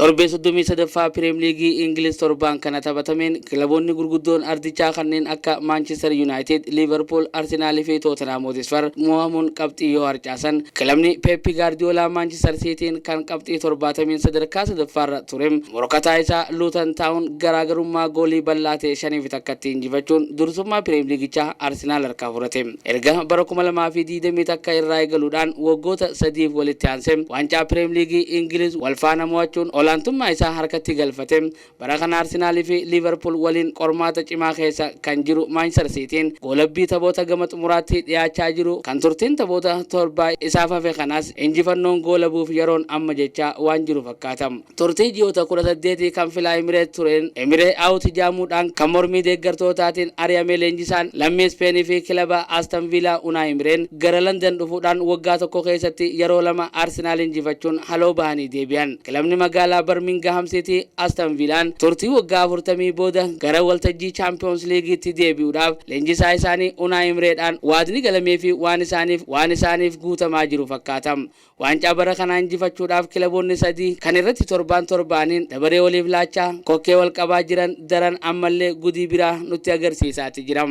Torbee 33ffaa Piriim Liigii Ingiliz torbaan kana taphatameen kilaboonni gurguddoon ardichaa kanneen akka Maanchister Yuunaayitid, Liiverpuul, Arsenaalii fi Tootenhaam Hotisfar mo'amuun qabxii yoo harcaasan, kilabni Peeppi Gaardiyoolaa Maanchister Siitiin kan qabxii 70n sadarkaa sadaffaarra ture morkataa isaa Luutan Taawun garaagarummaa goolii bal'aa ta'e 5 fi 1tti injifachuun dursummaa Piriim Liigichaa Arsenaal harkaa fudhate. Erga bara 2020 takka irraa eegaluudhaan waggoota sadiif walitti aansee waancaa Pireem Liigii Ingiliz wal faana mo'achuun olaantummaa isaa harkatti galfate, bara kana Arsenal fi Liiverpuul waliin qormaata cimaa keessa kan jiru Maanchister Siitiin goolabbii taphoota gama xumuraatti dhiyaachaa jiru kan turtiin taphoota torbaa isaaf hafe kanas injifannoon goolabuuf yeroon amma jechaa waan jiru fakkaata. Turtii ji'oota 18 kan filaa Emireet tureen Emiree Out jaamuudhaan kan mormii deeggartootaatiin ari'ame leenjisaan lammii Ispeen fi kilaba Aston Viilaa Unai Emireen gara London dhufuudhaan waggaa tokko keessatti yeroo lama Arsenaal injifachuun haloo bahanii deebi'an. Kilabni magaalaa Barmingaham City Aston Viilaan turtii waggaa 40 booda gara waltajjii Champions Liigiitti deebi'uudhaaf leenjisaa isaanii Unai Emireedhaan waadni galameefi waan isaaniif waan isaaniif guutamaa jiru fakkaata. Waancaa bara kanaa injifachuudhaaf kilaboonni sadii kan irratti torbaan torbaaniin dabaree waliif laachaa kokkee wal qabaa jiran daran ammallee gudii biraa nutti agarsiisaati jira.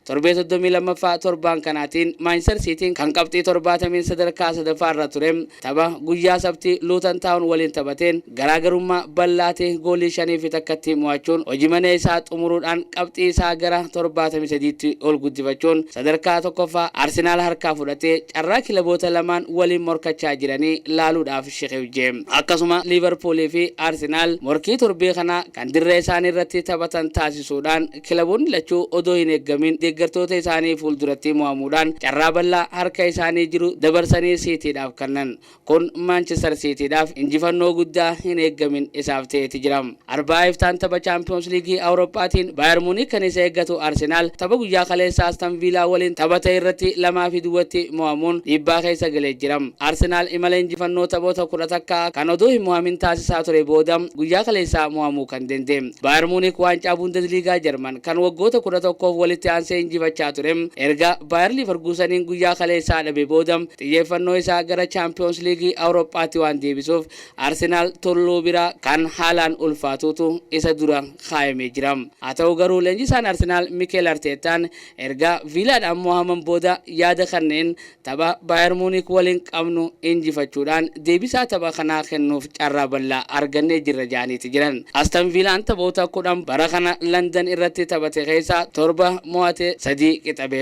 Torbee 32ffaa torbaan kanaatiin Maanchistar Siitiin kan qabxii 70n sadarkaa sadaffaa irra ture tapha guyyaa Sabtii Luutan Taawun waliin taphateen garaagarummaa bal'aa ta'e goolii shaniifi takkatti mo'achuun hojimanee isaa xumuruudhaan qabxii isaa gara 73tti ol guddifachuun sadarkaa tokkoffaa Arsenaal harkaa fudhatee carraa kilaboota lamaan waliin morkachaa jiranii laaluudhaaf shiqifje. Akkasuma Liivarpuulii fi Arsenaal morkii torbee kanaa kan dirree isaanii irratti taphatan taasisuudhaan kilaboonni lachuu odoo hin eeggamiin deeggartoota isaanii fuulduratti mo'amuudhaan carraa bal'aa harka isaanii jiru dabarsanii Siitiidhaaf kannan. Kun Maanchister Siitiidhaaf injifannoo guddaa hin eeggamin isaaf ta'eeti jira. Arba'aa iftaan tapha Chaampiyoons Liigii Awurooppaatiin Baayer Muuniik kan isa eeggatu Arsenaal tapha guyyaa kaleessaa Aston Viilaa waliin taphate irratti lamaa fi duwwatti mo'amuun dhiibbaa keessa galee jira. Arsenaal imala injifannoo taphoota kudha takka kan odoo hin mo'amin taasisaa ture booda guyyaa kaleessaa mo'amuu kan danda'e. Baayer Muuniik waancaa Bundesliigaa Jarman kan waggoota kudha tokkoof walitti aansee injifachaa ture erga Baayer Liiverkuuseniin guyyaa kaleessaa dhabe booda Xiyyeeffannoo isaa gara Chaampiyoons Liigii Awurooppaatti waan deebisuuf Arsenaal Tulluu bira kan haalaan ulfaatuutu isa dura kaayamee jira. Haa ta'u garuu leenjisaan Arsenaal Mikeel Arteettaan erga Viilaadhaan mo'aman booda yaada kanneen tapha Baayer Muunik waliin qabnu injifachuudhaan deebisaa tapha kanaa kennuuf carraa bal'aa argannee jirra jedhaniiti jiran. Aston Viilaan taphoota 10 bara kana Landan irratti taphate keessaa 7 mo'atee 3 qixabe.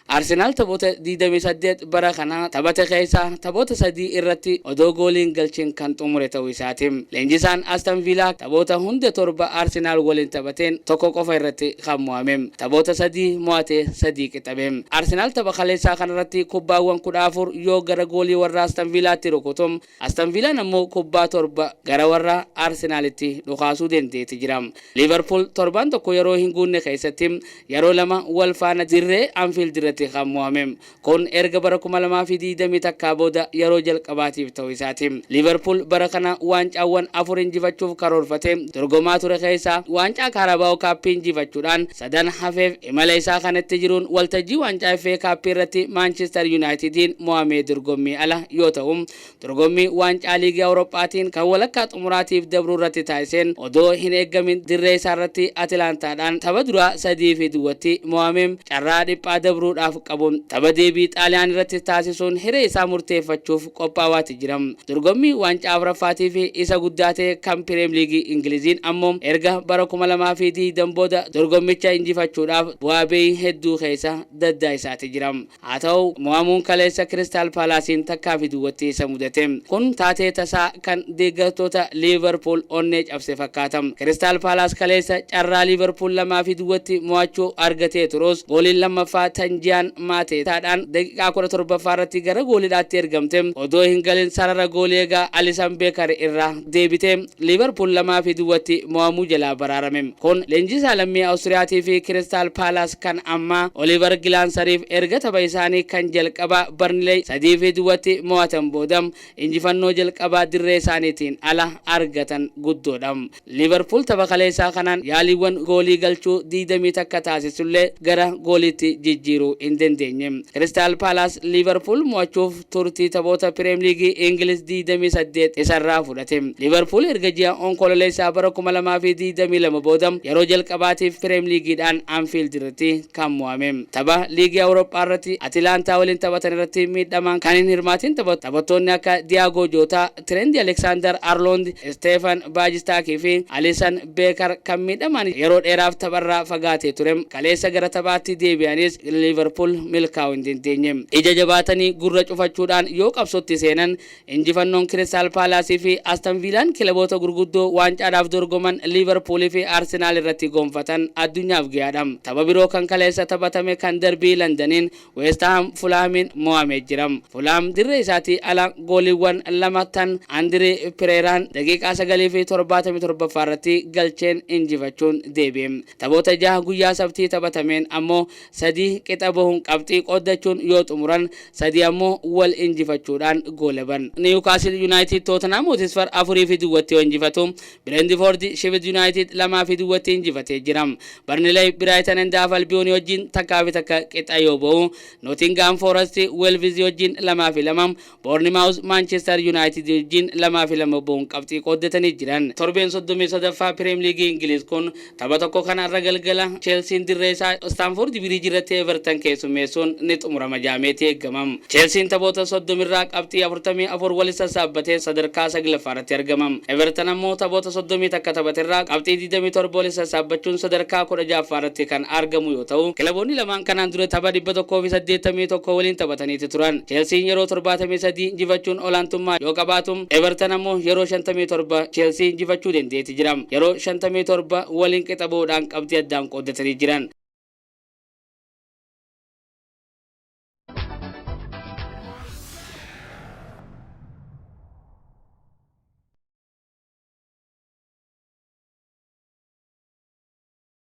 Arsenaal taphoota 28 bara kana taphate keessaa taphoota sadii irratti odoo goolii hin galchin kan xumure ta'uu isaati. Leenjisaan Aston Viilaa taphoota hunda torba Arsenaal waliin taphateen tokko qofa irratti kan mo'ame. Taphoota sadii mo'atee sadii qixabe. Arsenaal tapha kaleessaa kanarratti kubbaawwan 14 yoo gara goolii warra Aston Viilaatti rukutu Aston Viilaan ammoo kubbaa torba gara warra Arsenaalitti dhukaasuu dendeeti jira. Liiverpuul torbaan tokko yeroo hin guunne keessatti yeroo lama wal faana dirree Anfiild irratti kan mo'ame. Kun erga bara 2020 takkaa booda yeroo jalqabaatiif ta'uu isaati. Liiverpuul bara kana waancaawwan afur injifachuuf karoorfatee dorgomaa ture keessaa waancaa Kaarabaawo Kaappii injifachuudhaan sadan hafeef Imala isaa kanatti jiruun waltajjii waancaa FA Cup irratti Maanchister Yunaayitidiin mo'amee dorgommii ala yoo ta'u, dorgommii waancaa Liigii Awurooppaatiin kan walakkaa xumuraatiif dabru irratti taasiseen odoo hin eeggamin dirree isaarratti Atilaantaadhaan tapha duraa 3 fi duwwatti mo'ame carraa dhiphaa dabruudhaaf qabun tapha deebii Xaaliyaanirratti taasisuun hiree isaa murteeffachuuf qophaawaati jira. Dorgommii waancaa afraffaatiifi isa guddaa ta'e kan Pireem Liigii Ingiliziin ammoo erga bara 2020 booda dorgommicha injifachuudhaaf bu'aa ba'ii hedduu keessa daddaa'isaati jira. Haa ta'u mo'amuun kaleessa Kiristaal Paalaasiin takkaafi duwwatti isa mudate kun taatee tasaa kan deeggartoota Liivarpuul onnee cabse fakkaata. Kiristaal Paalaas kaleessa carraa Liivarpuul lamaafi duwwatti mo'achuu argatee turus gooliin lammaffaa Tanjiyaan Maatetaadhaan daqiiqaa 17ffaa irratti gara gooliidhaatti ergamte odoo hin galin sarara goolii eegaa Alissan Beekar irraa deebite Liiverpuul 2 fi duwwatti mo'amuu jalaa baraarame. Kun leenjisaa lammii Awustiriyaatii fi Kiristaal Paalaas kan ammaa Oliivar Gilaansariif erga tapha isaanii kan jalqabaa Barniley 3 fi duwwatti mo'atan booda injifannoo jalqabaa dirree isaaniitiin ala argatan guddoodha. Liivarpuul tapha kaleessaa kanaan yaaliiwwan goolii galchuu 21 taasisullee gara gooliitti jijjiiruu hin dandeenye. Kiristaal Paalaas Liivarpuul mo'achuuf turtii taphoota Pireem Liigii Ingiliz 28 isarraa fudhate. Liivarpuul erga ji'a Onkololeessaa bara 2022 booda yeroo jalqabaatiif Pireem Liigiidhaan Anfiild irratti kan mo'ame. Tapha Liigii Awuroophaa irratti Atilaantaa waliin taphatan irratti miidhamaan kan hin hirmaatiin taphatu taphattoonni akka Diyaagoo Jootaa, Tireenti Aleeksaandar Arloondi, Isteefan Baajistaakii fi Alisan Beekar kan miidhamaan yeroo dheeraaf tapharraa fagaatee ture kaleessa gara taphaatti deebi'anis Liiverpuul milkaa'uu hin dandeenye. Ija jabaatanii gurra cufachuudhaan yoo qabsootti seenan injifannoon Kiristaal Paalaasii fi Aston Viilaan kilaboota gurguddoo waancaadhaaf dorgoman Liiverpuulii fi Arsenaal irratti gonfatan addunyaaf gayaadha. Tapha biroo kan kaleessa taphatame kan Darbii Landaniin Weest Haam Fulaamiin mo'amee jira. Fulaam dirree isaatii ala gooliiwwan lama kan Andirii Pireeraan daqiiqaa 9 fi 77ffaa irratti galcheen injifachuun deebi'e. Taphoota jaha guyyaa Sabtii taphatameen ammoo sadii qixa bahuun qabxii qooddachuun yoo xumuran sadii ammoo wal injifachuudhaan goolaban. Niiwukaasiil Yunaayitiid Tootenhaam Hotisfar 4 fi duwwatti yoo injifatu, Bireentifoordi Shefid Yunaayitid 2 fi duwwatti injifatee jira. Barnileey Biraayitan and Haaf Albiyoonii wajjin takkaa fi takka qixa yoo ba'u, Notingaam Foorasti Weelvizi wajjin 2 fi 2, Boornimaawuz Maanchister Yunaayitidi wajjin 2 fi 2 ba'uun qabxii qooddatanii jiran. Torbeen 33ffaa Pireem Liigii Ingiliiz kun Tapha tokko kan har'a galgala Cheelsiin dirree isaa Istaanfoordi Biriij irratti Evertan keessummeessuun ni xumurama jedhameeti eegama. Cheelsiin taphoota 30 irraa qabxii 44 wali sassaabbatee sadarkaa 9ffaa irratti argama. Evertan ammoo taphoota 30 takka taphate irraa qabxii 27 wali sassaabbachuun sadarkaa 16ffaa irratti kan argamu yoo ta'u, kilaboonni lamaan kanaan dura tapha 181 waliin taphataniiti turan. Cheelsiin yeroo 73 injifachuun olaantummaa yoo qabaatu, Evertan ammoo yeroo 57 Cheelsii injifachuu dendeeti jira. yeroo 57 waliin qixa ba'uudhaan qabxii addaan qooddatanii jiran.